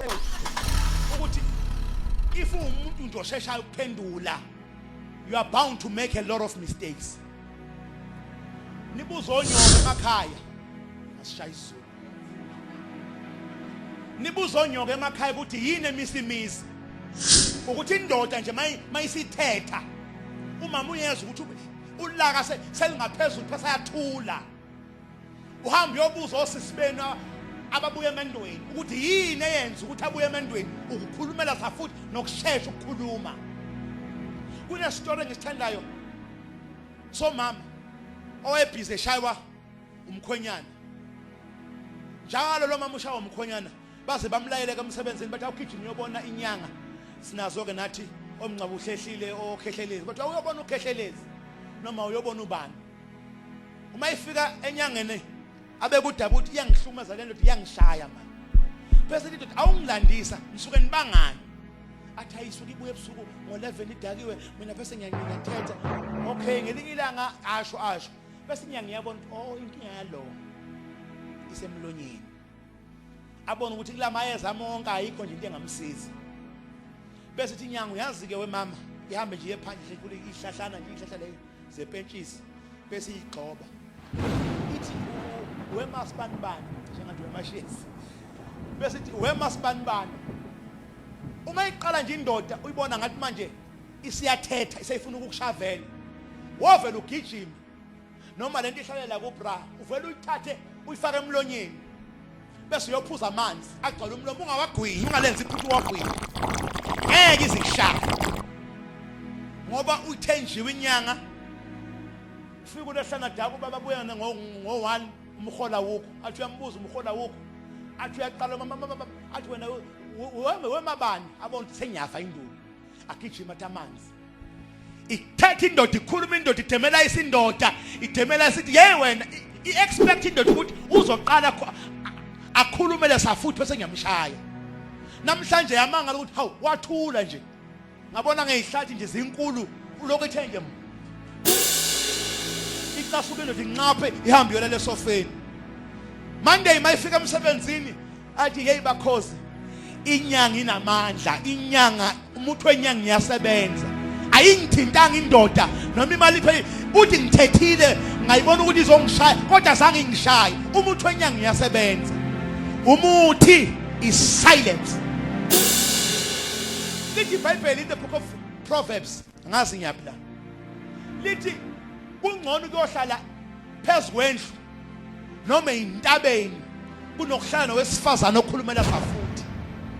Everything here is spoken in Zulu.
Oh. Ukuthi if umuntu nje osheshayo ukuphendula you are bound to make a lot of mistakes. Nibuzo onyoko emakhaya. Asishaya isizulu. Nibuzo onyoko emakhaya ukuthi yini emisimisi. Ukuthi indoda nje mayisithetha umama uyezwa ukuthi ulaka selingaphezulu phasa yathula. uhambe uyobuza osisi benu ababuya emendweni ukuthi yini eyenza ukuthi abuye emendweni ukukhulumela sa futhi nokushesha ukukhuluma kunesitori engisithandayo somama owayebhizi eshaywa umkhwenyana njalo lo mama ushawa umkhwenyana baze bamlayeleke emsebenzini bathi awugijima uyobona inyanga sinazo-ke nathi omngcaba uhlehlile okhehlelezi kodwa uyobona ukhehlelezi noma uyobona ubani uma ifika enyangeni abekudaba ukuthi iyangihlumaza le ndoda iyangishaya manje bese lithi awungilandisa ngisuke nibangani athi ayisuke ibuye ebusuku ngo-11 idakiwe mina bese ngiyathetha okay ngelinye ilanga asho asho bese ngiyangiyabona ukuthi oh inkinga yalowo isemlonyeni abona ukuthi kula mayeza amonke ayikho nje into engamsiza bese ithi nyango yazi-ke wemama ihambe nje iyephandle ikhule ihlahlana nje ihlahla leyo zepentshisi bese iyigxoba ithi wemasibanibani njengathi wemashezi bese ithi wemasibanibani uma iqala nje indoda uyibona ngathi manje isiyathetha iseyifuna ukukushavela wovela ugijima noma lento ihlalela ku bra uvela uyithathe uyifake emlonyeni bese uyophuza amanzi agcwala umlomo ungawagwinyi ungalenzi iphuthu wagwinyi ngeke izishaya ngoba uthenjiwe inyanga ufika ulehlana daku baba buyana ngo 1 umhola wukho athi uyambuza umhola wukho athi uyaqala mama athi wena wemabani abona ukuthi sengiyafa induku agijima athi amanzi ithetha indoda ikhuluma indoda idemela isindoda idemela isithi yey wena i-expect indoda ukuthi uzoqala akhulume lesa futhi bese ngiyamshaya namhlanje yamangala ukuthi hawu wathula nje ngabona ngeyihlathi nje zinkulu ulokhu ethe nje icasuke indoda inqaphe ihambe yona lesofeni monday mayifika emsebenzini athi hey bakhozi inyanga inamandla inyanga umuntu wenyanga ngiyasebenza ayingithintanga indoda noma imali phe uthi ngithethile ngayibona ukuthi izongishaya kodwa zange ingishaye umuntu wenyanga ngiyasebenza umuthi is silence lithi ibhayibheli in the book of proverbs ngazi ngiyapi la lithi kungcono ukuyohlala phezu kwendlu noma intabeni kunokuhlala nowesifazane okhulumela safuthi